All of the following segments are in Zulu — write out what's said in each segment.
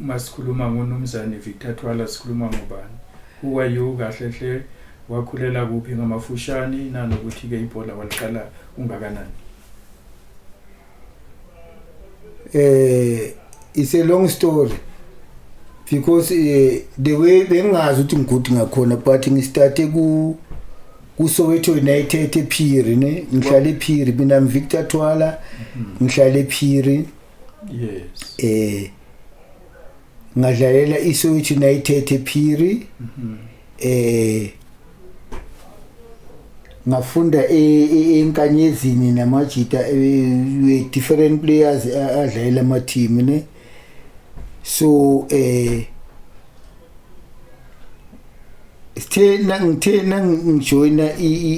Uma sikhuluma ngoNumzane Victor Thwala sikhuluma ngobani? Who are you kahle hle? Wakhulela kuphi ngamafushane nanokuthi ke ibhola waliqala ungakanani? Eh it's a long story because uh, the way bengazi ukuthi ngigudi ngakhona but ngistarte ku kuSoweto United ePhiri ne ngihlale ePhiri mina Victor Thwala mhm. ngihlale ePhiri mm -hmm. yes eh ngadlalela iSoweto United ePhiri mhm. eh ngafunda e, e, enkanyezini namajita e, we different players adlalela ama team ne so eh sithe ngithe ngijoyina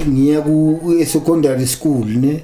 ngiya ku secondary school ne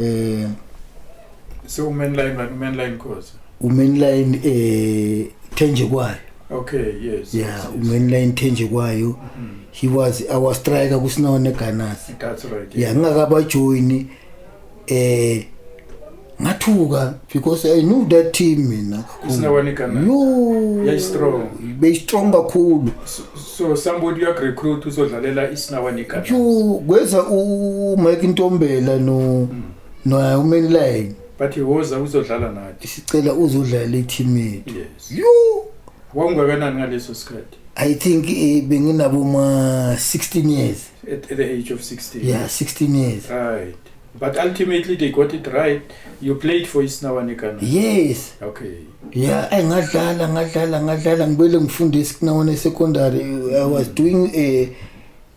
eh so umenline man umenline cause umenline eh thenje kwayo okay yes yeah yes, yes. umenline thenje kwayo mm -hmm. he was our striker kusinone ganas that's right yeah ngingakaba join eh ngathuka because i knew that team mina isinawanikana yo yeah, strong be strong kakhulu so somebody uyakurecruit uzodlalela isinawa negana Ju kweza u Mike Ntombela no no uMenline but woza uzodlala nathi sicela uzodlala i-team yethu yes you wawungakanani ngaleso sikhathi i think eh, benginabo ma 16 years at, at the age of 16 yeah 16 years right But ultimately they got it right. You played for Isnawanekana. Yes. Okay. Yeah, I ngadlala ngadlala ngadlala ngibele ngifunda eSinawane secondary. I was doing a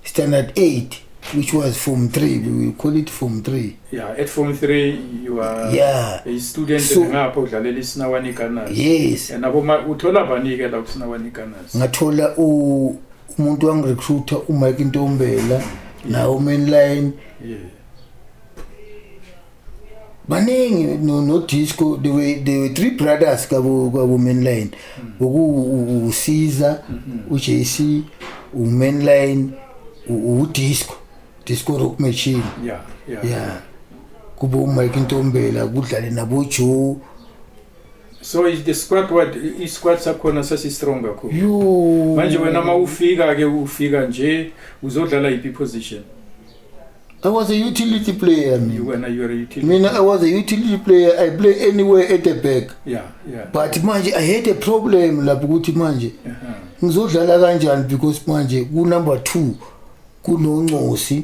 standard 8 which was form 3 we will call it form 3 yeah at form 3 you are yeah. a student so, ngapho udlalela isinawane gunners yes and abo uthola bani ke la kusinawane gunners ngathola umuntu wangirecruiter uMike Ntombela nawo mainline baningi no, no disco there were, there were three brothers kabo kabo mainline oku usiza uJC umainline udisco disco rock machine yeah yeah, yeah. kubo Mike Ntombela kudlale nabo Joe so is the squat what i- isquat sakhona sasistrong kakhulu Yo. manje wena uma ufika ke ufika nje uzodlala yiphi position I was a utility player mina. wena you are a utility Mina I was a utility player. I play anywhere at the back. yeah yeah But manje I had a problem lapho ukuthi manje uh-huh. ngizodlala kanjani because manje ku number 2 kunoncosi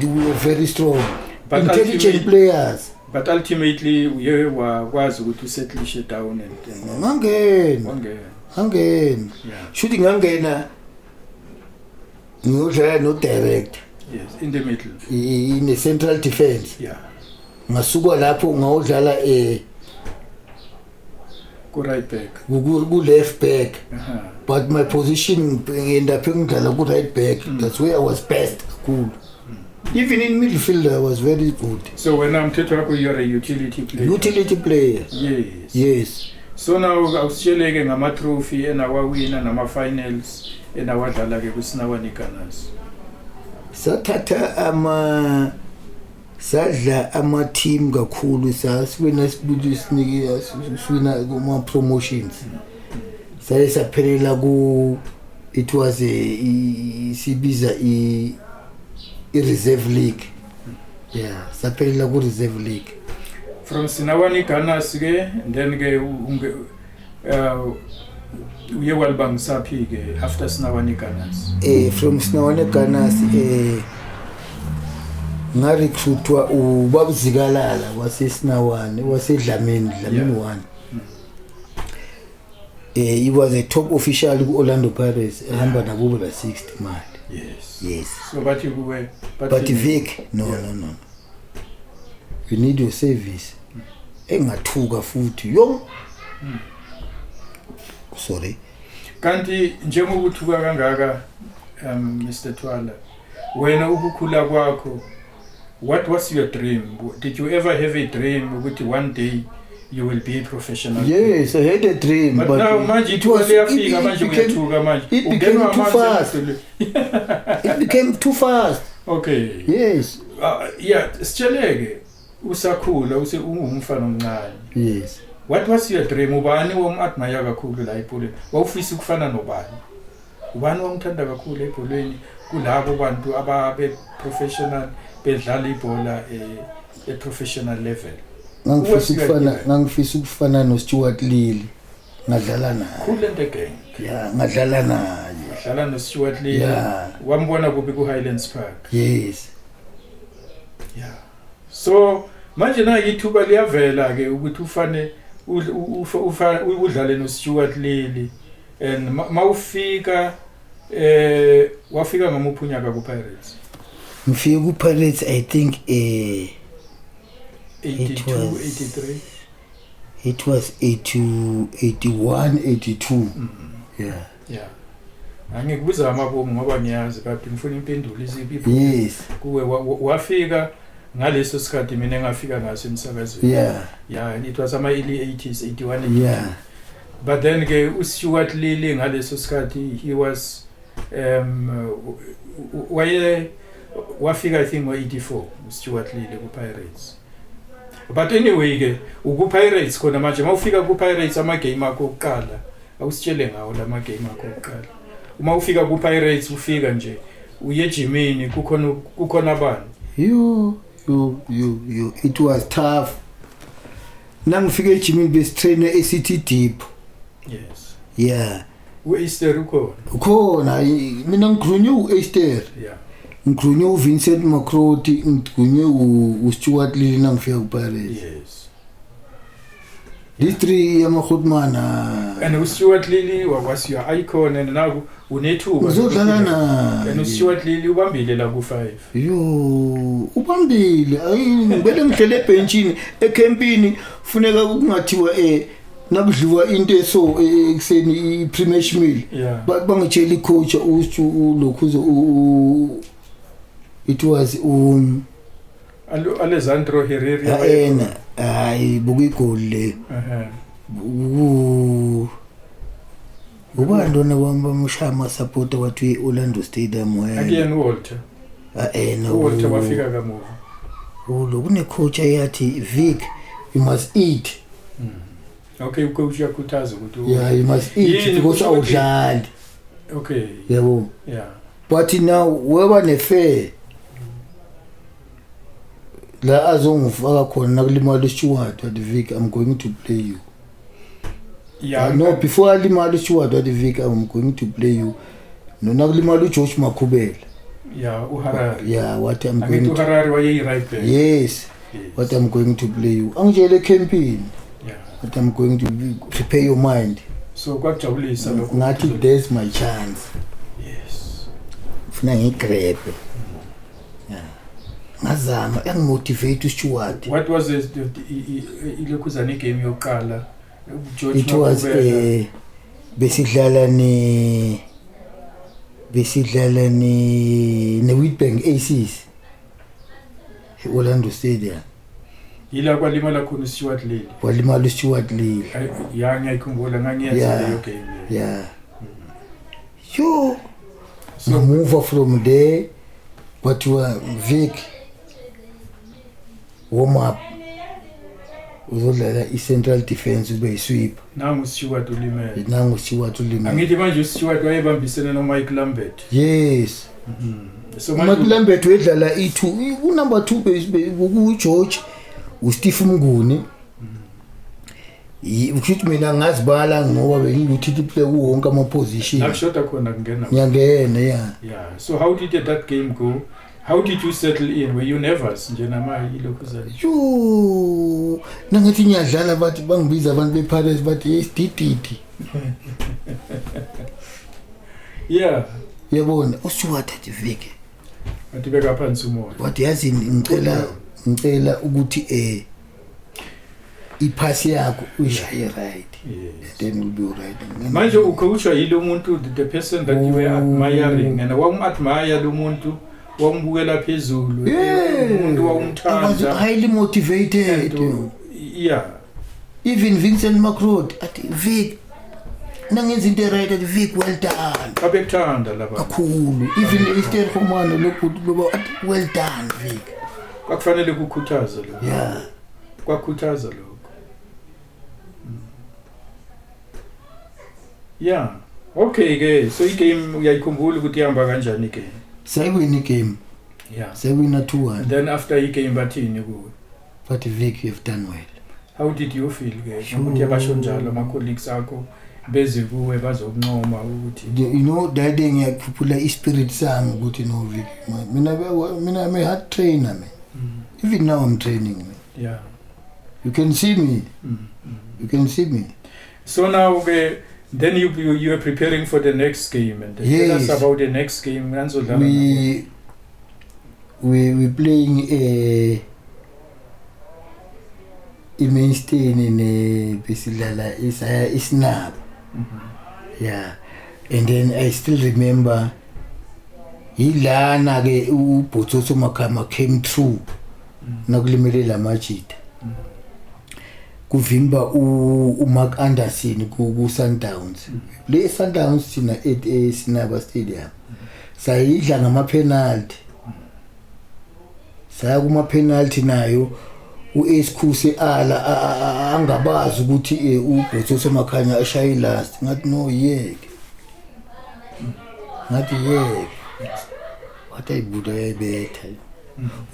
we are very strong but intelligent players but ultimately uye wakwazi ukuthi usettlishe down and ngangena ngangena shuthi ngangena ngiyodlala no director yes in the middle in the central defense yeah ngasuka lapho ngawudlala eh ku right back ku left back uh -huh. but my position ngenda phe ngidlala ku right back mm. that's where i was best kakhulu even in midfield i was very good so when i'm telling you you're a utility player utility player yes yes so now awusitsheleke ngama trophy enawawina nama finals enawadlala ke kusinawa nikanas sathatha ama uh, sadla ama-team kakhulu sasiwina sibili sinike siwina kuma-promotions saye saphelela ku it was a sibiza i-reserve league yeah saphelela ku-reserve league from sinawanigana sike then ke Uh, uye walibangisaphi-ke after sinawane gunners eh from sinawane gunners eh ngarecruitwa ubabuzikalala wasesinawane wasedlamini dlamini yeah. one mm. eh he was a top official ku-orlando pirates ehamba nakubo la 60 mali yes yes so bathi kuwe but vic no yeah. no no you need your service engathuka futhi yo sorry kanti njengoba uthuka kangaka um Mr Twala wena ukukhula kwakho what was your dream did you ever have a dream ukuthi one day you will be a professional yes i had a dream but, but now manje it was liyafika manje uyathuka manje it became too fast it became too fast okay yes uh, yeah sitsheleke usakhula use ungumfana omncane yes what was your dream ubani womadmire kakhulu la ebholeni wawufisa ukufana nobani ubani wamthanda kakhulu ebholeni kulabo bantu ababe professional bedlala ibhola e, e professional level ngangifisa ukufana ngangifisa ukufana no Stuart Lilly ngadlala naye khule nto gang yeah ngadlala naye ngadlala no Stuart Lilly yeah. wambona kuphi ku Highlands Park yes yeah so manje na ithuba liyavela ke ukuthi ufane udlale no Stuart Lili and mawufika eh wafika ngamuphi unyaka ku Pirates ngifike ku Pirates i think eh 82 83 it was 82 81 82 mm -hmm. yeah ya angikubiza amabomu ngoba ngiyazi kade ngifuna impendulo iziphi yes kuwe wafika ngaleso sikhathi mina engafika ngaso emsakazweni yeah yeah it was ama early 80s 81 yeah but then ke uStuart Lily ngaleso sikhathi he was um waye wafika i think ngo 84 uStuart Lily ku Pirates but anyway ke ukupirates khona manje mawufika kupirates amagame akho okuqala awusitshele ngawo la magame akho okuqala uma ufika kupirates ufika nje uye ejimini kukhona kukhona abani yo yo yo yo it was tough nangifika ejimini besitrainer esithi deep yes yeah U-Easter ukhona. Ukhona i- mina ngikhulunywe u-Easter. Yeah. Ngikhulunywe uVincent Makroti, ngikhulunywe u- uStuart Lili nangifika kuPirates. Yes. These three yamakhotman And uStuart Lili was your icon and now unethuba. ngizodlala And naye. uStuart Lili ubambile la ku 5. Yo, ubambile. Ayi ngibele ngihlele ebhentshini ekhempini funeka kungathiwa eh nakudliwa into eso e, e, ekuseni i-premish meal yeah. bangitshela i-coach ulokhuzo it was um alessandro herrera yena hayi buka igoli leyo ubani lona kwami bamushaya amasapota wathi i-orlando stadium akuyena uwalter aena ah, uwalter wafika kamuva ulo kunecoach eyathi vic you must eat hmm. okay ucoach uyakhuthaza ukuthi yeah you must eat because awudlali okay yebo yeah but now weba nefair la azongifaka khona nakulimala ishuwadi wathi vic i'm going to play you Yeah, no before alimala uStewart wathi Vic I'm going to play you nona kulimala uJosh Makhubela yeah uHarari yeah what I'm going to Harari wayeyi right back yes what I'm going to play you angitshele campaign yeah what I'm going to prepare your mind so kwajabulisa lokho ngathi there's my chance yes funa ngigrebe yeah ngazama engimotivate uStewart what was the ilokhuzana igame yokuqala it was eh besidlala ni besidlala ni ne Witbank Aces eOrlando Stadium yila kwalimala khona uStewart Lili walimala uStewart Lili ya ngiyayikhumbula ngangiyenza leyo game ya yo ngamuva from there kwathiwa Vic warm up uzodlala i-central defence ube yi-sweep nangu stewart ulimele nangu stewart ulimele angithi manje ustewart wayebambisene nomike lambert yes so mike manje lambert wedlala i-two kunumber two be- be- kugeorge usteve mnguni kushuthi mina ngazibala ngoba bengikuthi kiple kuwonke ama-position akushoda khona kungena ngiyangena ya yeah so how did that game go how did you settle in were you nervous nje namaye ilokhu zale yuu nangathi ngiyadlala bathi bangibiza abantu bepirates bathi yesidididi yeah yabona usiwathathe vike wathi beka phansi umoya wathi yazi ngicela ngicela ukuthi um iphasi yakho uyishaye right yes. then you'll be right manje ukhawushwa yilo umuntu the person that you were oh. admiring and wawumadmire lo muntu wawumbukela phezulu umuntu wawumthanda highly motivated yeah even Vincent Macrod athi Vic nangenza into right athi Vic well done abekuthanda laba kakhulu even Esther Khomane lo good loba well done Vic kwakufanele kukhuthaze lo yeah kwakhuthaza lokho mm. yeah okay ke so igame uyayikhumbula ukuthi ihamba kanjani ke sekwini game yeah sekwina 2-1 then after igame bathini kuwe bathi vic you've done well How did you feel ke Sure. ukuthi abasho njalo ama colleagues akho beze kuwe bazokuncoma ukuthi The- you know that day ngiyakhuphula ispirit sami ukuthi no Vic man. mina be- mina I'm a hard trainer man mm, even now I'm training man. yeah you can see me mm, mm. you can see me So now ke then you you you are preparing for the next game and tell Yes. us about the next game nanizodlala nabo. we we we playing a i-mainsteni ne besidlala isaya isinabo ya and then i still remember yilana-ke ubhotsoso makhama came through nakulimele la majita kuvimba umark anderson ku-sundowns le sundowns thina esinaba stadium sayidla ngamaphenalty saya kuma penalty nayo uSkhuse ala angabazi ukuthi eh, ubhotso semakhanya eshaye last ngathi no yeke ngathi yeke wathi ayibuda yayibetha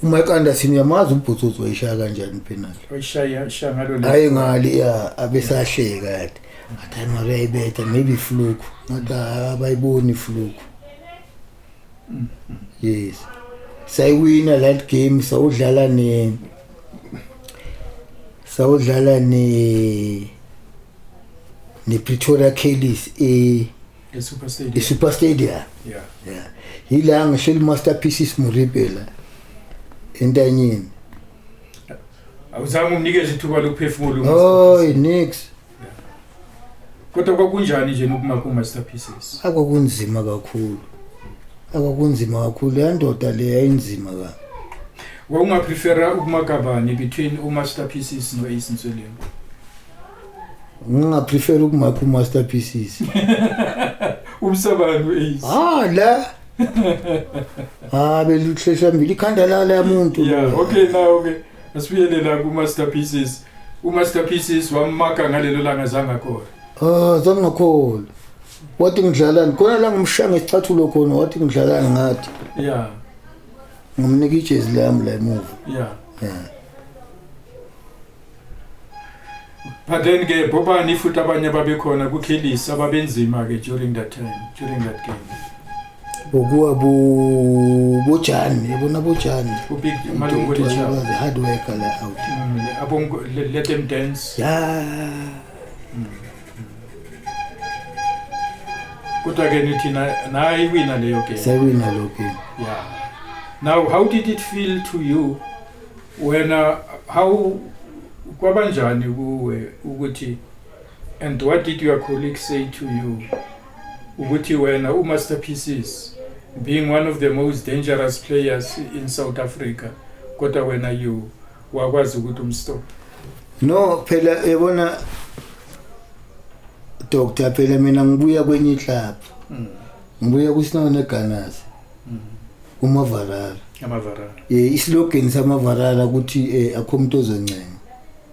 uma ekanda sini yamazi ubhotso wayishaya kanjani penalty wayishaya shangalo la hayi ngali ya abesahleka yathi ngathi ayimabeyibetha maybe fluku ngathi abayiboni fluku yes sayiwina that game sawudlala ne sawudlala ne ne Pretoria Kellys e e Super Stadium e Super Stadium yeah yeah yila ngisho masterpieces muribela entanyeni awuzange umnikeze ithuba lokuphefumula oh nix kodwa kwakunjani nje nokuma kuma-master pieces akwakunzima kakhulu akwakunzima kakhulu leya ndoda le yayinzima ka wawungaprefera ukumakabani between umaster pieces no-ace nsweleni ngingaprefera ukumakha umaster pieces umsabani u-ace ha la ha beluhlehla mbili ikhanda lala yamuntu yeah, okay now okay asibuyele la ku-master pieces umaster pieces wammaka ngalelo langa zangakora ah zangakhona wathi ngidlalani khona la ngimshaya ngesicathulo khona wathi ngidlalani ngathi ya ngimnika ijezi lami la emuva ya ya but then ke bobani futhi abanye ababekhona kukhilisa ababenzima ke during that time during that game bokuwa bo bojani yabona bojani the hard worker la out mm, abongo let them dance ya mm. kodwa ke nithi naye iwina leyo game sewina lo game yeah now how did it feel to you when uh, how kwabanjani kuwe ukuthi and what did your colleagues say to you ukuthi wena uMaster Pieces being one of the most dangerous players in South Africa kodwa wena you wakwazi ukuthi umstop no phela yabona doctor phela mina ngibuya kwenye club mm. ngibuya kuSinawo neGanas mm. uMavarara amavarara eh islogan samavarara ukuthi eh, akho umuntu ozoncenga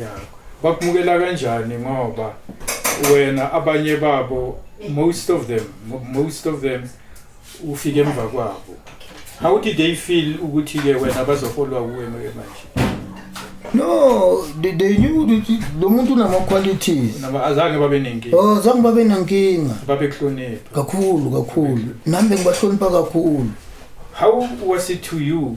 ya bakumukela kanjani ngoba wena abanye babo most of them most of them ufike emva kwabo how did they feel ukuthi ke wena bazofolwa kuwe manje no they, they knew ukuthi lo muntu unama qualities naba azange babe nenkinga oh zange babe nenkinga babe kuhlonipha kakhulu kakhulu nami bengibahlonipha kakhulu how was it to you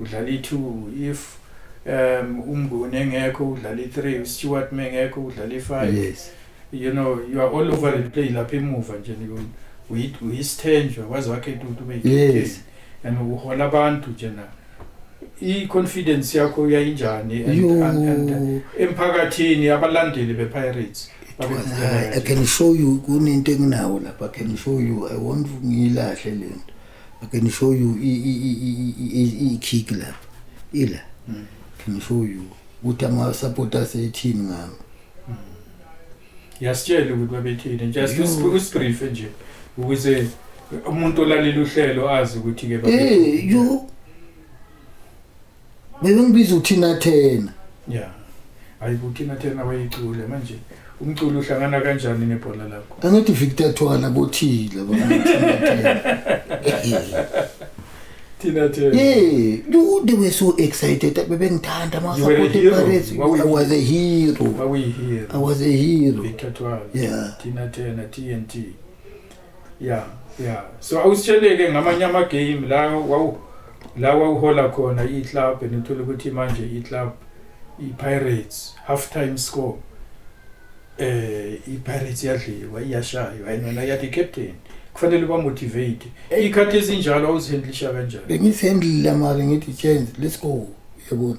udlala i-2 if um umnguni engekho udlala i-3 uStewart mengekho udlala i-5 yes you know you are all over the play lapha emuva nje uyisithenjwa waze wakhetha ukuthi ube yes and uhola abantu nje na i-confidence yakho uyayinjani emphakathini abalandeli be-pirates I can show you kunento enginawo lapha I can show you I want ngiyilahle lento I can show you i-kick lapha ila mm. can show you ukuthi ama-support asethini ngami mm. yasitshela ukuthi babethini just usibrife nje ukuze umuntu olalela uhlelo azi ukuthi-ke eh, yo Bebengibiza uthina thena. Yeah. Hayi uthina thena wayicule manje umculo uhlangana kanjani nebhola lakho? Angithi Victor Thwala bothile bona. Thina thena. Yeah, you they were so excited. Bebengithanda ma support Pirates. I was a hero. Wawuyihero. I was a hero. Victor Thwala. Yeah. Thina thena TNT. yeah yeah so awusitsheleke ngamanye ama game la wawu la wawuhola khona i club nithola ukuthi manje i club i Pirates half time score eh i Pirates yadliwa iyashaywa yena yathi captain kufanele ba motivate eh. ikhathi ezinjalo awuzihandlisha kanjani bengizihandlile mara ngithi change let's go yabona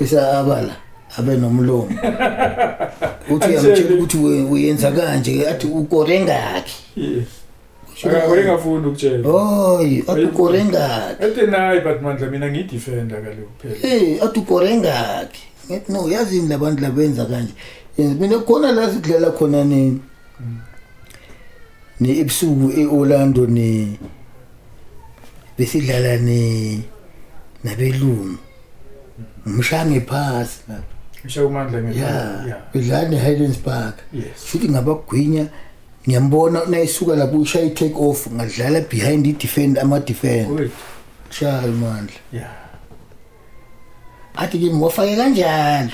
Bese abala abe nomlomo. Uthi uyamtshela ukuthi we- uyenza kanje athi ukore ngakhi. Yes. Akakore ngafuni ukutshela. Hoyi, athi ukore ngakhi. Ete nayi but mandla mina ngidefenda kaloku phela. Eh, athi ukore ngakhi. Ngithi no yazini labantu labenza kanje. Yenza mina khona la sidlala khona nini. Ne ebusuku eOrlando ne besidlala ne nabelungu. ngishaya ngephasi lapha ngishaye umandla ya ngephasi yeah udlala ne-highlands park Yes. futhi ngabagwinya ngiyambona nayisuka lapho ushaya i-take off ngadlala behind i-defend ama-defend wethu shaya umandla ya athi kimi wafake kanjalo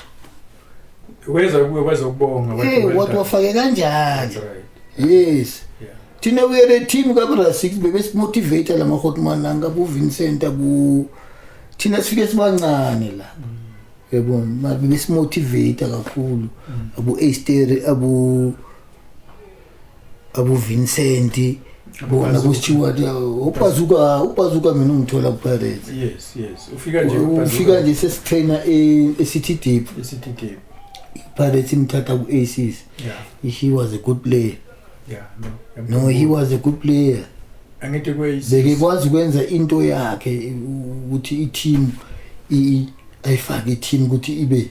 weza kuwe weza ukubonga wathi Eh, well wathi done. wafake kanjani That's right. yes Yeah. thina we are a team kabra six bebesimotivate la mahotman anga kuvincent ku thina sifike sibancane la yabona mara bebesimotivate kakhulu abu astere abu abuvincent bona kusteward ubazuka ubazuka mina ungithola kupirates yes yes ufika nje ufika nje sesitrainer e-city deep e-city deep Pirates imthatha ku-aces yeah. he was a good player yeah, no. no he was a good player angithi bekekwazi ukwenza into yakhe ukuthi i-team ayifake i-team ukuthi ibe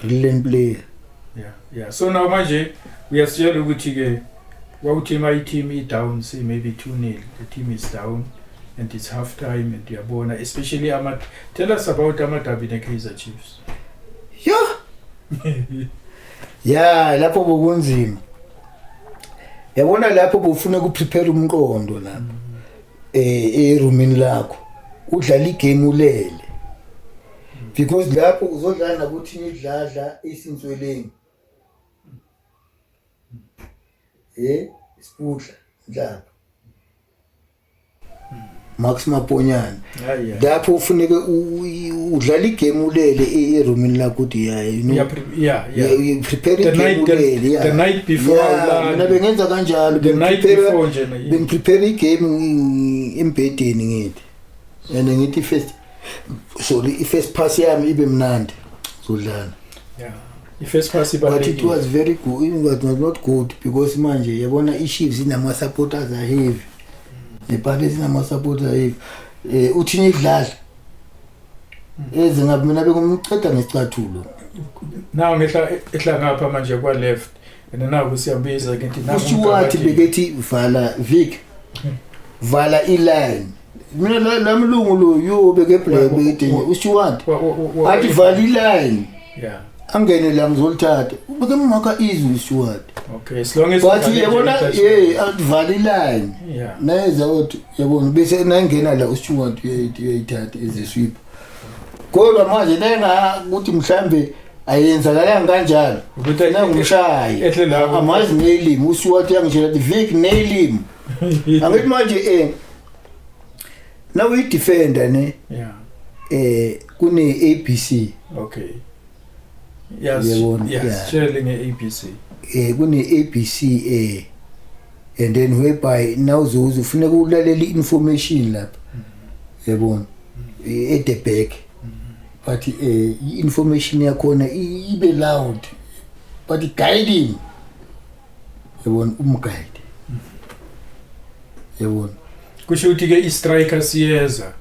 brilliant player yeah yeah so now manje uyasitshela ukuthi ke wawuthi ma i-team i-down say maybe 2 nil the team is down and it's half time and uyabona especially ama tell us about amadabi ne-kaizer chiefs yo ya lapho bokunzima yabona lapho bufuna ukuprepare umqondo lapho mm. eh erumini lakho udlala igame ulele because lapho uzodlala nakuthi nidladla isintsweleni eh isikudla njalo Max Maponyana lapho ufuneke udlala igame ulele e-, eroomini lakho uthi yeah you know yeah yeah you prepare the night ulele yeah the night before mina bengenza kanjalo the night before nje bengiprepare igame embhedeni ngithi and ngithi first sorry i-first pass yami ibe mnandi zodlana yeah. i-first pass but it was very good it was not good because manje yabona i-chiefs inama-supporters aheavy nepate zinama-supporters aheavy um eh, uthini idlala hmm. eze ngabe mina bekumceda ngesicathulo naw ngehla ngapha manje kwa-left and naku siyambiza ke thina kusho wathi bekethi vala vik vala iline mina la lamlungu lo yo beke black bekethi usho wathi athi vala iline yeah angene la ngizolithatha ubeke maka izwi usho wathi okay as long as but yabona hey vala iline yeah nayeza uthi yabona bese nayingena la usho wathi uyayithatha iziswipha kodwa manje lenga ukuthi mhlambe ayenzakalanga kanjalo Ukuthi- na ngumshayi Ehle la- amazi neyilimi usiwathi yangitshela ukuthi vik neyilimi angithi manje um na uyidefenda ne Yeah. um kune-a b c Okay. Yebo, yeah. yasitshele nge-abc eh kune-abc eh and then whereby nawuzoze ufuneka ulalele i-information lapha yabona eh, at the back but eh i-information yakhona i- ibe loud but guiding yabona umguide yabona kusho ukuthi ke i-striker siyeza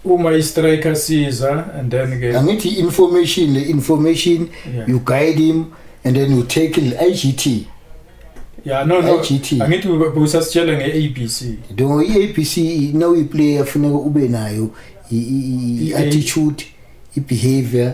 uma i-striker siza and then ke angithi information le information yeah. you guide him and then you take the IGT yeah no no IGT angithi busasitshela nge-ABC do i-ABC now iplayer funeka ube nayo i-attitude i-behavior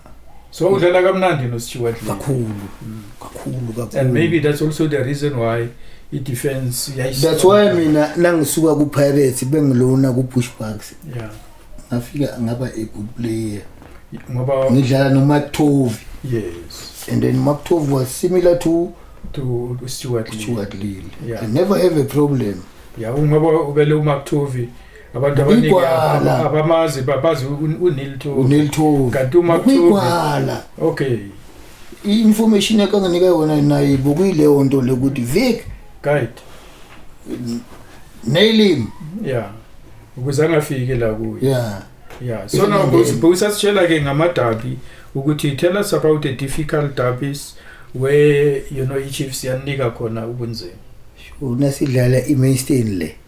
so udlala kamnandi noStewart kakhulu mm. kakhulu kakhulu and maybe that's also the reason why i-defense that's why mina nangisuka ku-pirates bengilona ku-pushbacks yeah ngafika ngaba a good player ngoba ngidlala nomaktovi yes and then maktovi was similar to to stewart stewart lille yeah. i never have a problem ya yeah, ngoba ubele umaktovi abantu abaningi Igwala. aba- abamazi ba- bazi un- unil to uneli thovu kanti uma kuthiwa- kwigwala okay i-information yakanganika yona naye bokuyileyo nto le ukuthi vic guide neyilimi yeah ukuze angafiki la kuyo ya yeah so now Ilandeni. busasitshela ke ngamadabi ukuthi tell us about the difficult derbies where you know ichiefs yanika khona ubunzima unasidlala i-mainstain le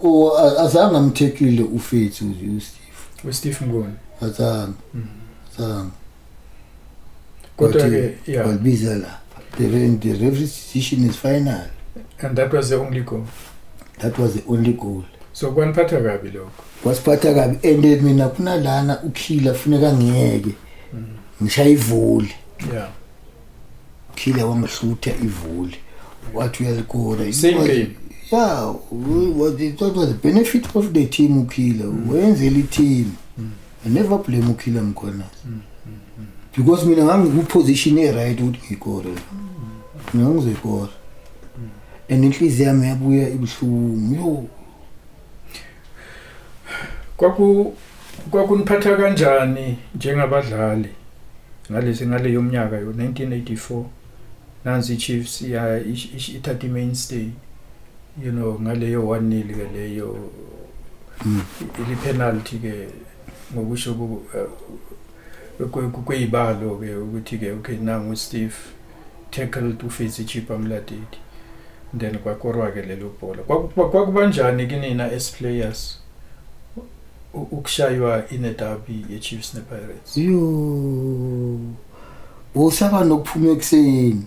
o azange amthethile ufethu nje uSteve uSteve Ngoni azange mm. azange kodwa ke yeah walibiza la the, the referee decision is final and that was the only goal that was the only goal so kwaniphatha kabi lokho wasiphatha kabi and mina kunalana ukhila funeka ngiyeke mm. ngishaye ivoli yeah Killer wangihlutha ivuli. Wathi uyalikora. He Same was- game. Yeah, we- was the, that was the benefit of the team uKiller. Wenzela i-team. I never blame uKiller mkhona. Because mina ngangikuposition e-right ukuthi ngikore. Mina ngizekora. And inhliziyo yami yabuya ibuhlungu. Yo, Kwaku kwakuniphatha kanjani njengabadlali ngalezi ngale yomnyaka yo 1984 nansi iChiefs ya ithatha imainstay you know ngaleyo 1 nil ke leyo mm. ili penalty ke ngokusho eh, kweyibalo ke ukuthi ke okay nangu Steve tackled uFitzy Chippa Mladidi then kwakorwa ke lelo bhola kwakubanjani kinina as players ukushaywa ine derby ye Chiefs ne Pirates yo usaba nokuphuma ekuseni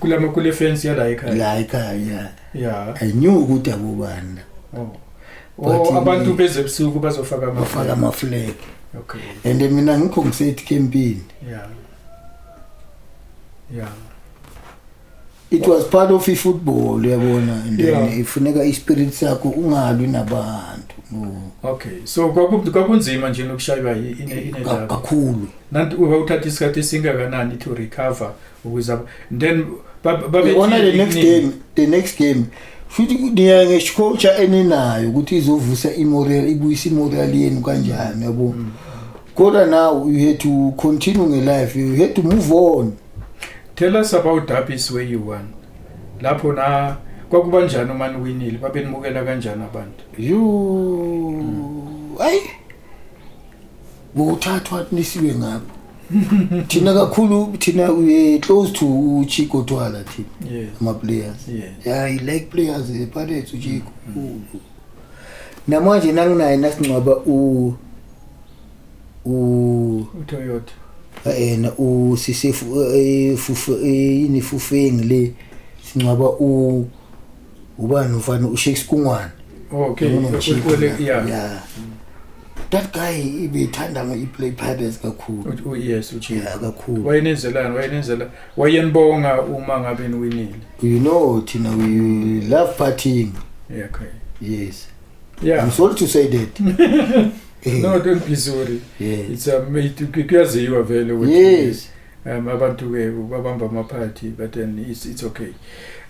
kule kule fence yala ekhaya la ekhaya yeah i knew ukuthi abobanda oh oh abantu beze busuku bazofaka ama bafaka ama flag okay and mina ngikho ngisethi campaign yeah yeah it was part of ifootball uyabona and then yeah. ifuneka ispirit sakho ungalwi nabantu no okay so kwakunzima nje nokushaywa inedaba kakhulu nanti wawuthatha isikhathi esingakanani to recover ukuze then babona the next game the next game futhi niya ngescoach eninayo ukuthi izovusa imoral ibuyisa imoral yenu kanjani yabo mm. kodwa now you had to continue nge life you had to move on Tell us about derbies where you won. Lapho na kwakuba njani uma niwinile babenibukela kanjani abantu? You hmm. ay nguthathwa nisiwe ngabo. thina kakhulu thina we close to uchico twala thina yes. ama-players yes. yeah, i like players epirates uchico mm. namanje nanginaye nasingcwaba u uToyota ena usise fufu yini fufeng le sincwaba u ubani mfana uShakes Kungwane okay ukhole yeah yeah that guy ibithanda ngiplay pirates kakhulu yes uthi kakhulu wayenenzelana wayenenzela wayenibonga uma ngabe niwinile you know thina we love partying yeah okay yes yeah. I'm sorry to say that no don't be sorry yeah. it's a um, kuyaziwa vele ukuthi yes um abantu ke babamba ama party but then it's it's okay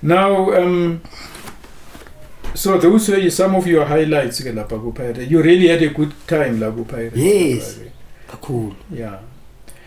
now um so those were some of your highlights ke lapha ku pirate you really had a good time la ku pirate yes kakhulu yeah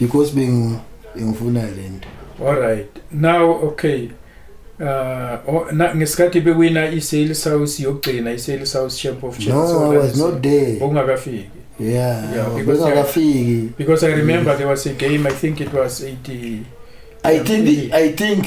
because bengu ngifuna lento all right now okay uh ngesikhathi bewina i-sales house yokugcina i-sales house champ of champions no i was not there ungakafiki yeah, yeah because ungakafiki because i remember there was a game i think it was 80 i think i think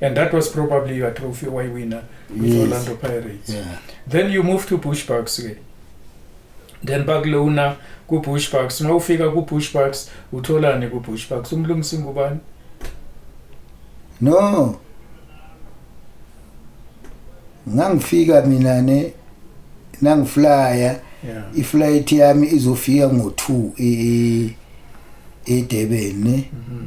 And that was probably your trophy why winner with yes. Orlando Pirates. Yeah. Then you move to Bush Bucks. Okay? then bakulona ku-bush bucks uma ufika ku-bush bucks utholani ku-bush bucks umlungisi ngubani no ngangifika mina ne nangiflya yeah. iflight yami izofika ngo-two e-durban ne mm -hmm.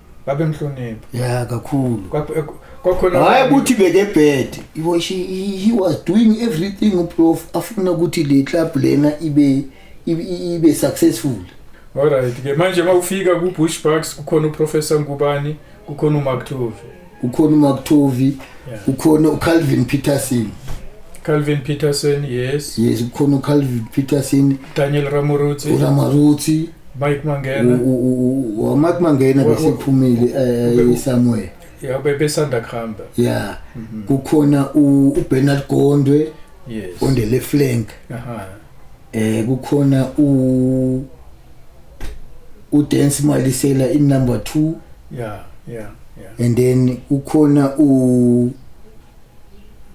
babemhlonipha yeah kakhulu eh, kwakhona hayi ukuthi beke bad he was she, he was doing everything uprof afuna ukuthi le club lena ibe ibe successful alright ke manje mawufika ku bush bucks kukhona uprofessor ngubani kukhona umark tove ukhona umakuthovi ukhona ucalvin peterson calvin peterson yes yes ukhona ucalvin peterson daniel ramorutsi uramorutsi mike mangena wamike mangena besephumile eh, somewhere ya bebesanda kuhamba ya mhm. kukhona ubernard gondwe yes on the left flank aha eh kukhona u udance malisela in number 2 yeah yeah yeah and then ukhona u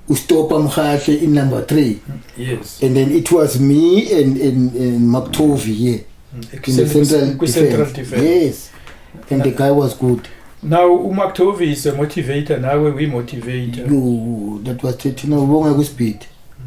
ustopa mhahle in number 3 yes and then it was me and and, and maktovi here mm, in the central, defense. central defense yes and the guy was good now umaktovi is a motivator nawe we motivator you that was thina ubonga ku speed mm.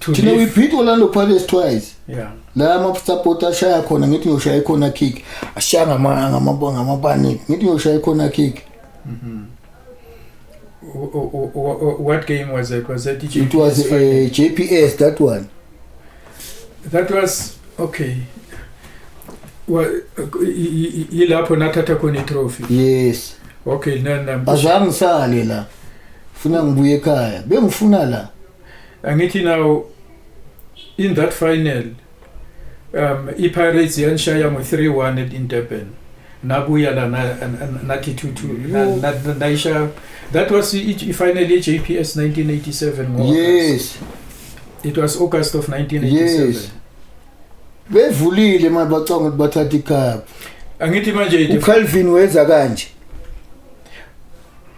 to thina we this beat orlando pirates twice yeah la amasapoti ashaya khona ngithi ngiyoshaya ikhona kick ashaya ngama- ngama- ngamapaniki ngithi ngiyoshaya ikhona kick W- w- w- w- what game was it was it it was uh, a jps that one that was okay Wa- y- y- y- yilapho nathatha khona itrophy yes okay nana azange ngisale la funa ngibuye ekhaya bengifuna la angithi now in that final um iPirates yanshaya ngo 3-1 at in Durban nabuya la nathi 2-2 nayisha that was ifinal ye JPS 1987 ngo Yes it was August of 1987 yes. bevulile manje bacanga ukuthi bathatha icup angithi manje uCalvin weza kanje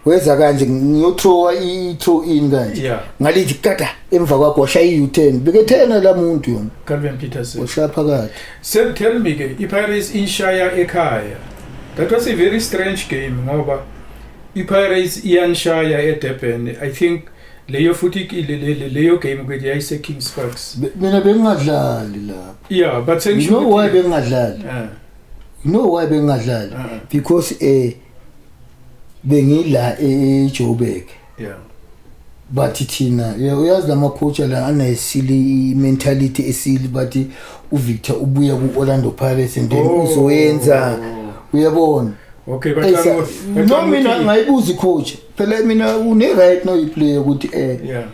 weza kanje ngiyothowa i-two in kanje Yeah. ngalithi kata emva kwakho washaya i-u-ten bekethena la muntu yona Calvin Peterson. washaya phakathi Sir, tell me ke iPirates inshaya ekhaya. That was a very strange game ngoba iPirates iyanshaya eDurban. I think leyo futhi ki- le- le- le- leyo game ukuthi yayise Kings Parks. Be- mina bengingadlali lapho Yeah, but you know why bengingadlali Eh, you know why bengingadlali eh, because eh bengila eJoburg yeah bathi thina uyazi lamaphutha la anesili mentality esili bathi uVictor ubuya kuOrlando Pirates and then oh. uzoyenza uyabona Okay baqala no mina ngayibuza coach phela mina une right no iplayer ukuthi eh yeah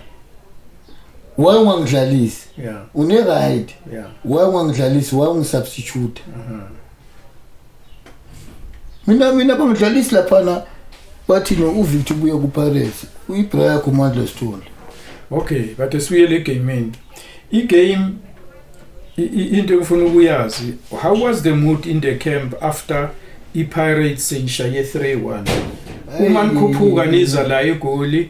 why ungangidlalisi yeah une right yeah why ungangidlalisi why ungisubstitute uh -huh. mina mina bangidlalisi laphana bathi no uvictor ubuye kupirates uyibra yakho mandla sithole okay kade sibuyele egameni igame i- i- into engifuna ukuyazi how was the mood in the camp after ipirates seyishaye 3-1 uma nikhuphuka niza la egoli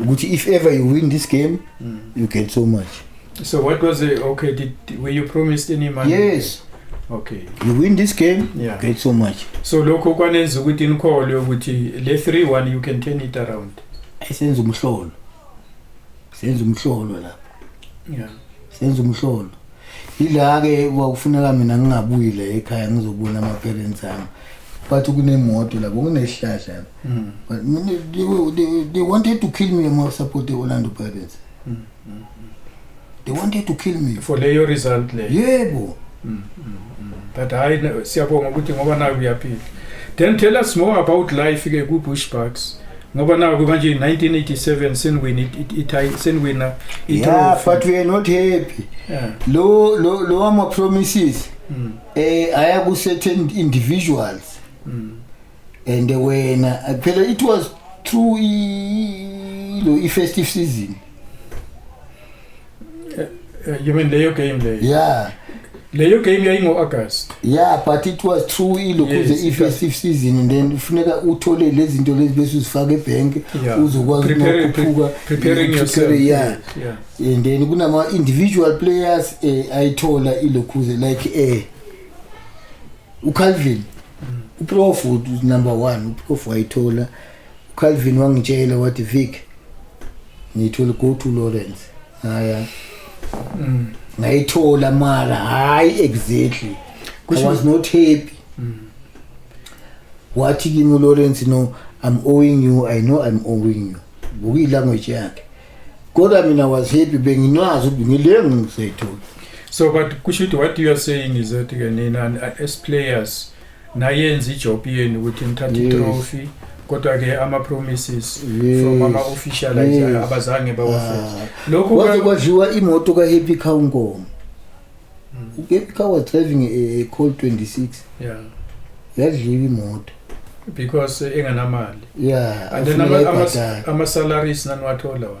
ukuthi if ever you win this game mm. you get so much so what was it okay did, did were you promised any money yes okay you win this game yeah. get so much so lokho kwanenza ukuthi nikholwe ukuthi le 3 1 you can turn it around senza umhlolo senza umhlolo lapho yeah senza umhlolo yila ke kwakufuneka mina ngingabuyile ekhaya ngizobona ama parents ami bathi kunemoto lapho kunesihlahla lapho Mm. but mina they, were- they, they wanted to kill me ama support the Orlando Pirates Mm, mm. they wanted to kill me for leyo result leyo yebo Mm, mm, mm. but hayi ne- siyabonga ukuthi ngoba nayo uyaphila then tell us more about life ke ku-bush bucks ngoba naku manje 1987 seniwina ithayi seniwina yeah but we are not happy yeah. lo lo lo ama promises mm. eh aya ku certain individuals mm. and wena phela it was through lo i festive season Eh, eh, you mean leyo game leyo yeah leyo game yayingo-august yeah but it was true ilokhu yes, the festive season and then kufuneka uthole lezi zinto lezi bese uzifake ebhenki yeah. uzokwazi nokukhuphuka yeah. yeah. and then kunama-individual players eh, ayithola ilokhuze like eh, ucalvin mm. uprof number one uprof wayithola Calvin wangitshela wathi Vic ngithi will go to Lawrence ngaya mm. ngayithola mara hayi exactly Kusho, I was not happy mm. wathi kimi Lawrence no I'm owing you I know I'm owing you buki language yakhe kodwa mina was happy benginazi ukuthi ngile ngisayithola so but kusho ukuthi what you are saying is that ke nina as players nayenza ijob yenu ukuthi nithathe Yes. itrophy kodwa ke ama promises Yes. from ama officials Yes. abazange bawafeze Ah, lokhu kwaze ka- kwadliwa imoto ka-happy car unkomo u-happy car was driving a, a col 26 yeah yadliwa imoto because eh, enganamali ya and then ama- ama- ama salaries naniwathola wona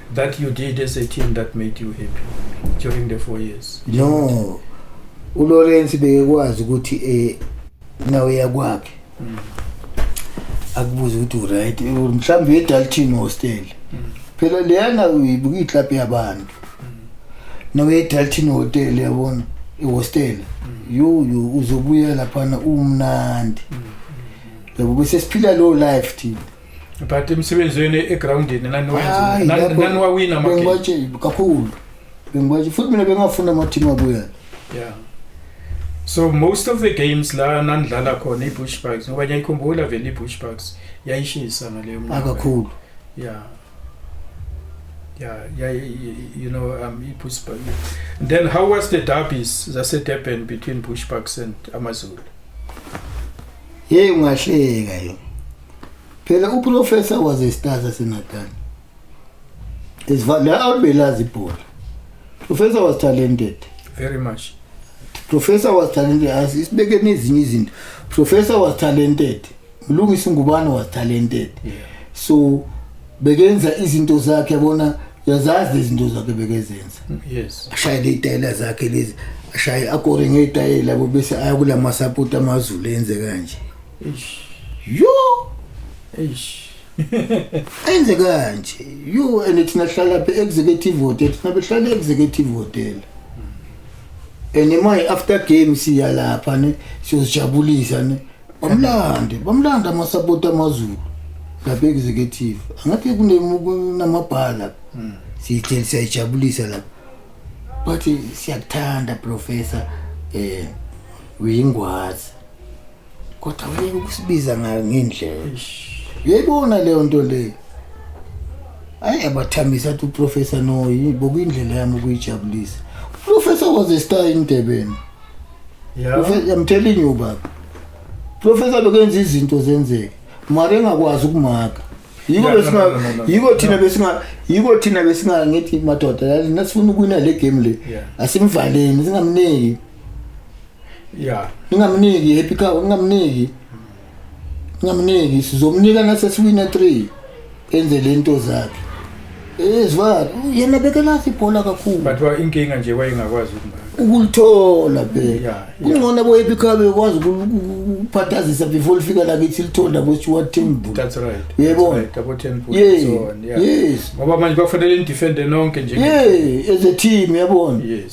that you did as a team that made you happy during the four years? No. uLawrence bekwazi ukuthi eh nawe yakwakhe. Mm. Akubuza ukuthi uright mhlawumbe eDalton hostel. Mm. Phela leyana uyibuka iclub yabantu. Mm. Nawe eDalton hotel yabona ihostel. Mm. Yo yo uzobuya lapha na umnandi. Mm. Yabo bese siphila low life thina. but emsebenzweni egroundini naniwawina bengibatshe kakhulu bengibatshe futhi mina bengafuna amathimu abuyana yeah so most of the games la nanidlala khona i-bush bugs ngoba ngiyayikhumbula vele i-bush bugs yayishisa ngaleyo mnaa kakhulu yeah yeah yeah you know um i-bush bug then how was the derbies zasedurban between bush bugs and amazulu yeyi ungahleka yona phela uprofessor was a star saseNatal la awubelazi ibhola professor was talented very much professor was talented asibekeni ezinye izinto professor was talented mlungisi ngubane was talented yeah. so bekenza izinto zakhe yabona yazazi izinto zakhe bekezenza yes ashayele itayela zakhe lezi ashaye akore ngeyitayela bese aya kulamasapoti amazulu enze kanje Eish. Yo. Eish. Enze kanje. You and it's nahlala phe executive hotel. Thina behlala executive hotel. And my after game siya lapha ne siyozijabulisa ne. Bamlande, bamlanda amasapoti amaZulu. Lapha executive. Angathi kunemabhala. Hmm. Siyithel siyajabulisa lapha. But siyakuthanda professor eh uyingwazi. kodwa wena ukusibiza ngayo ngendlela uyayibona leyo nto leyo ayi abathamisa athi uprofessor no bokuyindlela yami ukuyijabulisa uprofessor was a star emdebeni i'm telling you baba professor bekenza izinto zenzeke mara engakwazi ukumaka yiko Yeah, no, besinga no, no, no, no. yiko thina No. besinga yiko thina besinga ngithi madoda yazi nasifuna ukuwina le game le Yeah. asimvaleni singamniki yeah ningamniki happy cow ningamniki ningamniki sizomnika nasesiwina 3 enze lento zakhe ezwa yena bekelazi ibhola kakhulu but wa inkinga nje wayengakwazi ukumbaka ukulithola phela kungcono boyephi khabe ukwazi ukuphathazisa before lifika la kithi lithola bo Stuart Temple that's right uyebona double temple yeah. so on yeah yes ngoba manje bafanele indefende nonke nje yeah as a team yabona yes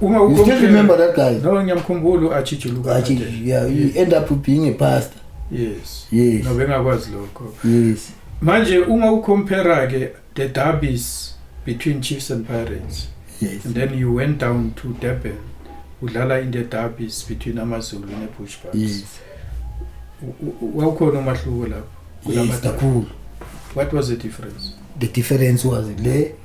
Uma you still remember that guy? No, ngiyamkhumbula u-Achijuluka. Achijuluka, yeah, you yes. end up being a pastor. Yes. Yes. No, bengakwazi lokho. Yes. Manje uma ucompare ke the derbies between Chiefs and Pirates. Yes. And then you went down to Durban. Udlala in the derbies between AmaZulu neBushbucks. Yes. Wawukhona umahluko lapho. Yes, kakhulu. What was the difference? The difference was le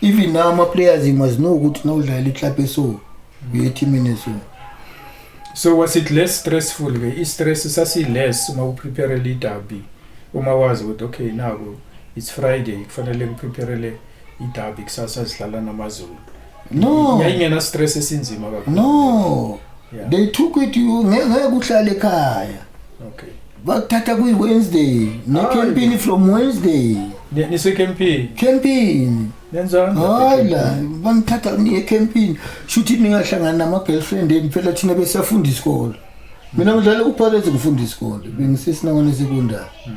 even now ama-players you must know ukuthi nawudlalela iclub eso uyethimini eso so was it less stressful ke i-stress sasi-less uma upreparele idabi uma wazi ukuthi okay naku it's friday kufanele ngipreparele idabi kusasa zidlala namazulu no yayingena stress esinzima kakhulu no yeah. they took it you ngeke uhlale ekhaya okay bakuthatha kuyi Wednesday ne campaign from Wednesday nise campaign campaign nenzani hayi la bangithatha ngiye campaign shuthi ningahlangana nama girlfriend eni phela thina besafunda isikole mina ngidlala uphakethe ngifunda isikole bengisesinawana sekondari mm.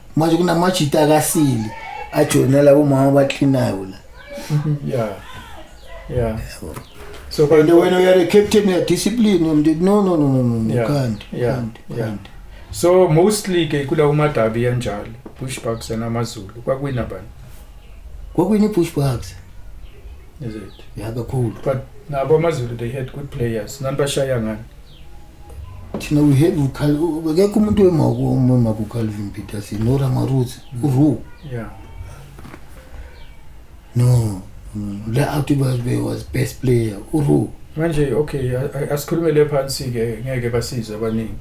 manje kunamajita akasili ajoyina labo mama abaklinayo la yeah yeah so and when you are a captain you are disciplined um, no no no no no yeah. can't yeah. can't yeah. can't so mostly ke kula umadabi enjalo bushbucks namazulu kwakwina bani kwakwini bushbucks is it yeah kakhulu but nabo amazulu they had good players nanibashaya ngani thina we have akekho umuntu wemakukhalvin peterson noramaruzi uru no le out was best player uru manje okay asikhulume le phansi ke ngeke basize abaningi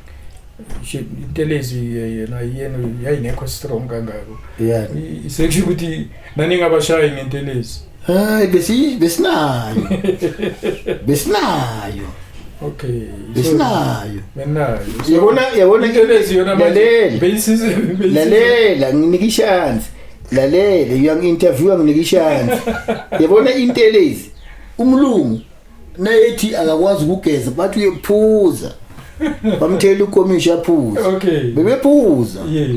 intelezi yena yena yayingekho strong kangako yeah sekusho ukuthi Naningabashayi ngentelezi. Hayi besi besinayo. Besinayo. Okay. Besinayo. Benayo. Yabona yabona intelezi yona manje. Beyisize beyisize. Lalela nginika ishansi. Lalela uyangi interview nginika ishansi. Yabona intelezi. Umlungu nayethi akakwazi ukugeza bathi uyephuza bamthela ukomishi aphuza okay bebephuza yeah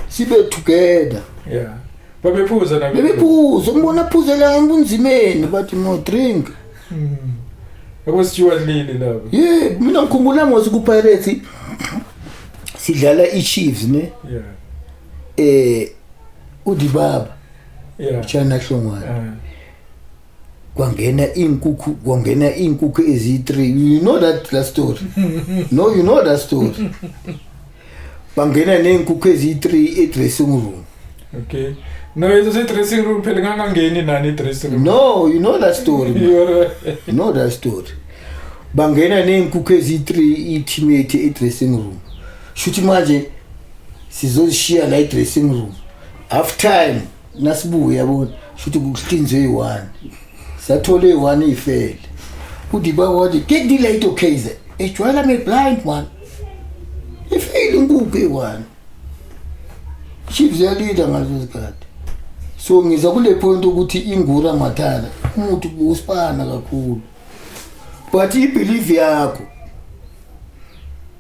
sibe together yeah babephuza na bebephuza umbona phuzela ngunzimeni bathi no drink mm. akwasithiwa lini laba yeah mina ngikhumbula ngosi ku pirates sidlala i chiefs ne yeah eh udibaba yeah chana hlongwana uh. kwangena iy'nkukhu kwangena iy'nkukhu eziyi-three you know that that story no you know that story bangena ney'nkukhu eziyi-three e-dressing room okay no it's a dressing room phela ngangangeni nani i-dressing room no you know that story you know that story bangena ney'nkukhu eziyi-three i-timate e-dressing room shuthi manje sizozishiya la e-dressing room half time nasibuye yabona shuthi kuhlinzwe yi-one sathole yi-one iyifele udiba wathi get the late okz ejwayela me blind one ifeyile inkukhu eyi-one chiefs yalida ngaleso sikhathi so ngiza kule point ukuthi ingura mathala umuthi usipana kakhulu but ibelieve yakho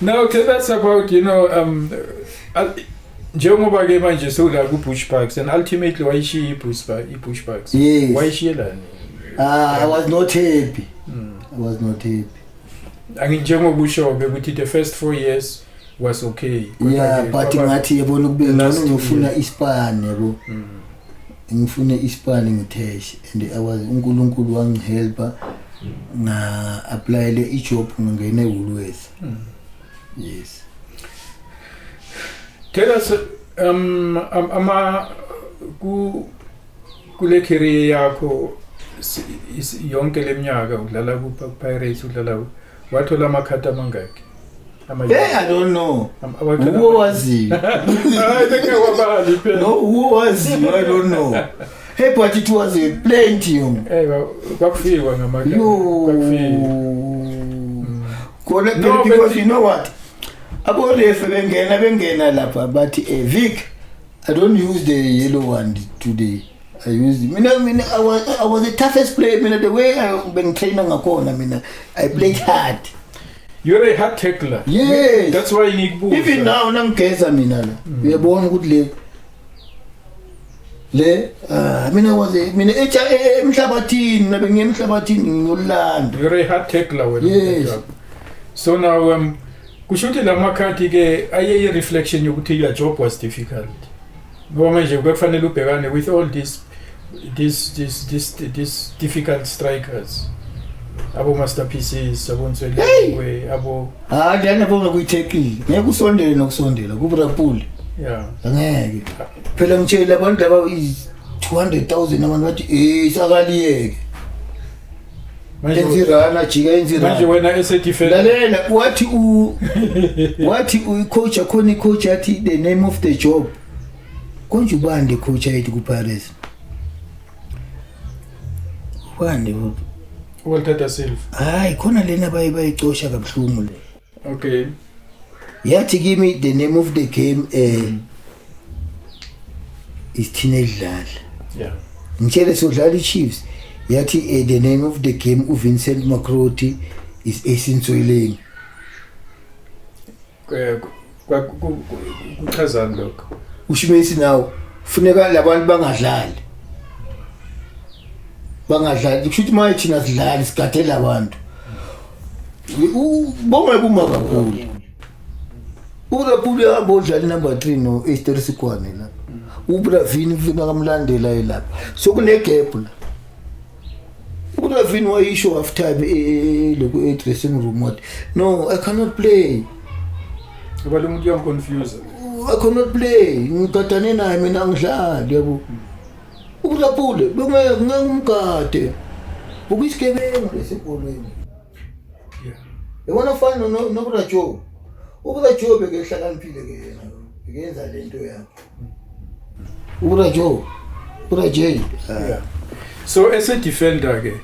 No, okay, that's about, you know, um, njengoba ke manje sewula ku-bush parks and ultimately wayishiye i-bush parks yes. wayishiyelani ah, i was not happy mm. i was not happy anginjengokusho-ke ukuthi the first four years was okay yeah but ngathi yebona ukube ngcono ngifuna ispan yabo mm. ngifune ispani ngiteshe and i was unkulunkulu wangihelpa nga-aplayele ijob ngingene woolworth mm. yes tell us um, um, ama ku kule career yakho yonke le minyaka udlala kupirates udlala wathola amakhadi amangaki Hey, I don't know. Who was he? I think I was bad. No, who was he? I don't know. Hey, but it was a plenty. Hey, kwakufikwa ngamakhadi. Kwakufikwa. khona phela because you know what aborefu bengena bengena lapha bathi um vic I don't use the yellow one today. I used mina mina I was I was the toughest player mina the way I bengitraina ngakhona mina I played hard. You're a hard tackler. Yes. That's why ngikubuza. Even now nangigeza mina la. Mm. Uyabona ukuthi le le ah, mina was mina e, e, emhlabathini nabe ngiyemhlabathini ngiyolanda. You're a hard tackler wena. Yes. So now um kusho ukuthi la makhadi ke ayeyi-reflection yokuthi your job was difficult ngoba manje bekufanele ubhekane with all these these these these, these difficult strikers abo master pieces abo nswelekwe abo ha ngiyane bonga kuyithekile ngeke usondele nokusondela ku Liverpool yeah ngeke phela ngitshela abantu laba 200,000 abantu bathi eh sakaliyeke Manje enzirana jika manje enzirana wena esedefense lalela wathi u wathi uyicoach akhona icoach yathi the name of the job konje ubande coach ayithi kupirates ubande u- uwalthatha silva hayi khona lena baye bayicosha kabuhlungu le okay yathi kimi the name of the game eh mm. is teenage dlala yeah ngitshele sodlala iChiefs yathi eh, the name of the game uVincent Makroti is esinsoyileni kuchazani lokho ushimesi nawo funeka labantu bangadlali bangadlali kusho ukuthi maye thina sidlali sigadela abantu bongeke uma kakhulu urapuli hamba odlala inumber three no-easteri sikwane la ubravini funeka kamlandela ye lapha sokunegephu la uravin wayisho after time e, e, e, loku e-dressing room wathi no i cannot play ngoba lo muntu uyamconfuse i cannot play ngigadane naye mina angidlali yabo ukulapule bekungeke ngeke umgade ukuyisigebengu lesibholweni yabona fana nokurajobe ukurajobe ke hlakaniphile ke yena ngenza lento yakho Ura Joe. Ura Jay. Yeah. So as a defender ke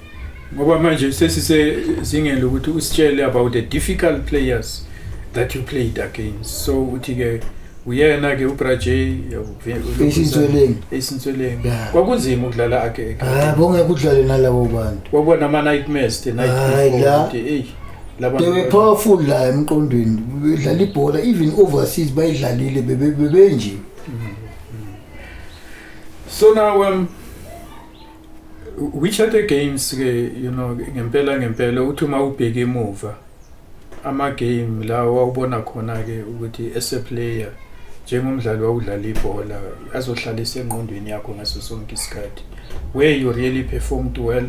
ngoba manje sesisezingeni lokuthi usitshele about the difficult players that you played against. So uthi ke uyena ke uBraje esintsweleni esintsweleni kwakunzima ukudlala ake ah bonge kudlale nalabo bantu kwakubona ama nightmares the night before hey laba they were powerful la emqondweni bedlala ibhola even overseas bayidlalile bebe bebe nje so now um which other games ke you know ngempela ngempela uthi uma ubheke emuva ama game la wawubona khona ke ukuthi as a player njengomdlali wawudlala ibhola azohlalisa engqondweni yakho ngaso sonke isikhathi where you really performed well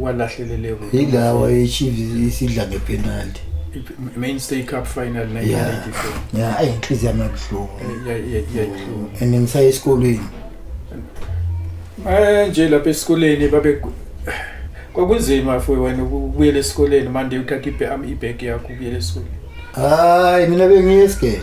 walahleleleko yilawa echiefs isidla ngepenalty main stay cup final 1984 yeah ayi inhliziyo yami yabuhlungu yayihlungu and ngisaye esikolweni eh nje lapha esikoleni babe kwakunzima futhi wena ukubuyela esikoleni manje uthatha ibham ibag yakho ubuyela esikoleni hayi mina bengiye esigele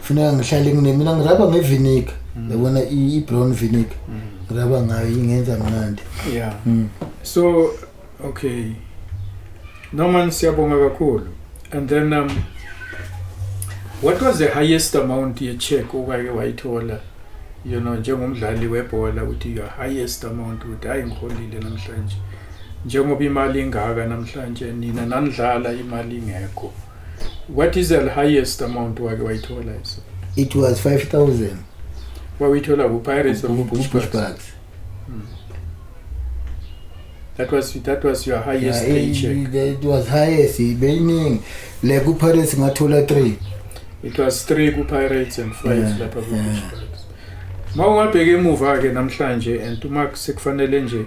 funeka ngihlale nginemina ngiraba ngeviniga mm. yabona i-brown viniga mm. ngiraba ngayo ingenza mnandi ya mm. so okay norman siyabonga kakhulu and then um, what was the highest amount ye-check okake wayithola you know njengomdlali webhola ukuthi your highest amount ukuthi hayi ngiholile namhlanje njengoba imali ingaka namhlanje nina nanidlala imali ingekho What is the highest amount wake wayithola iso? It was 5000. Wawithola ku Pirates or Bush Bucks? Hmm. That was that was your highest yeah, paycheck. It was highest beyiningi. Le ku Pirates ngathola 3. It was 3 ku Pirates and 5 yeah, lapha ku Bush Bucks. Mawungabheka emuva ke namhlanje and uma sekufanele nje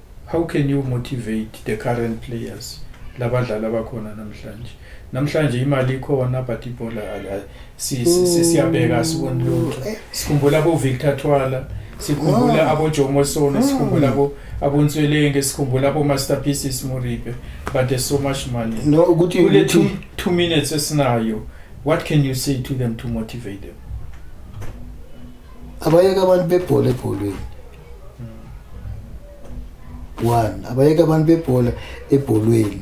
How can you motivate the current players labadlali abakhona namhlanje namhlanje imali ikhona but ibhola siyabheka mm. siboni lutho eh. sikhumbula bo-victor thwala sikhumbula ah. abojomo sona mm. sikhumbula abonswelenge sikhumbula abo-master pieces moripe but there's so much money no, ukuthi, kule two, two minutes esinayo what can you say to them to motivate them abayeke abantu bebhola ebholweni one abayeke abantu bebhola ebholweni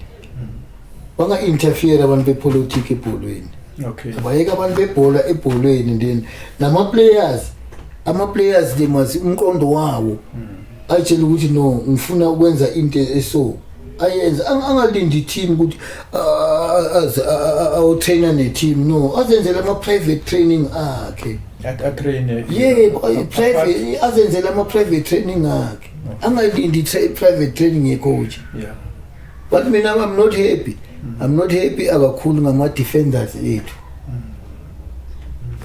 banga-interfere abantu bepolitiki ebholweni okay abayeke abantu bebhola ebholweni then nama-players ama-players they must umqondo wawo atshele ukuthi no ngifuna ukwenza into eso ayenze angalindi team ukuthi aze awutrainer ne team no azenzele ama private training akhe atraine yebo private azenzele ama private training akhe angalindi private training ye coach yeah but mina i'm not happy mm. i'm not happy akakhulu ngama defenders ethu mm.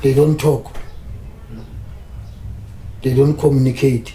they don't talk they don't communicate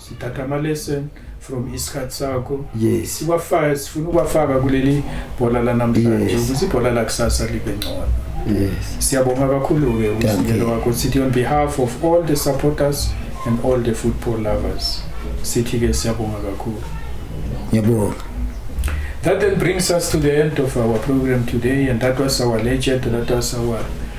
sithatha ama-lesson from isikhathi sakho yes siwafaka sifuna ukwafaka kuleli bhola lanamhlanje Yes. ukuthi ibhola lakusasa libe ngcono yes siyabonga kakhulu-ke Thank umzingelo you. wakho sithi on behalf of all the supporters and all the football lovers sithi-ke siyabonga kakhulu ngiyabonga That then brings us to the end of our program today, and that was our legend, that was our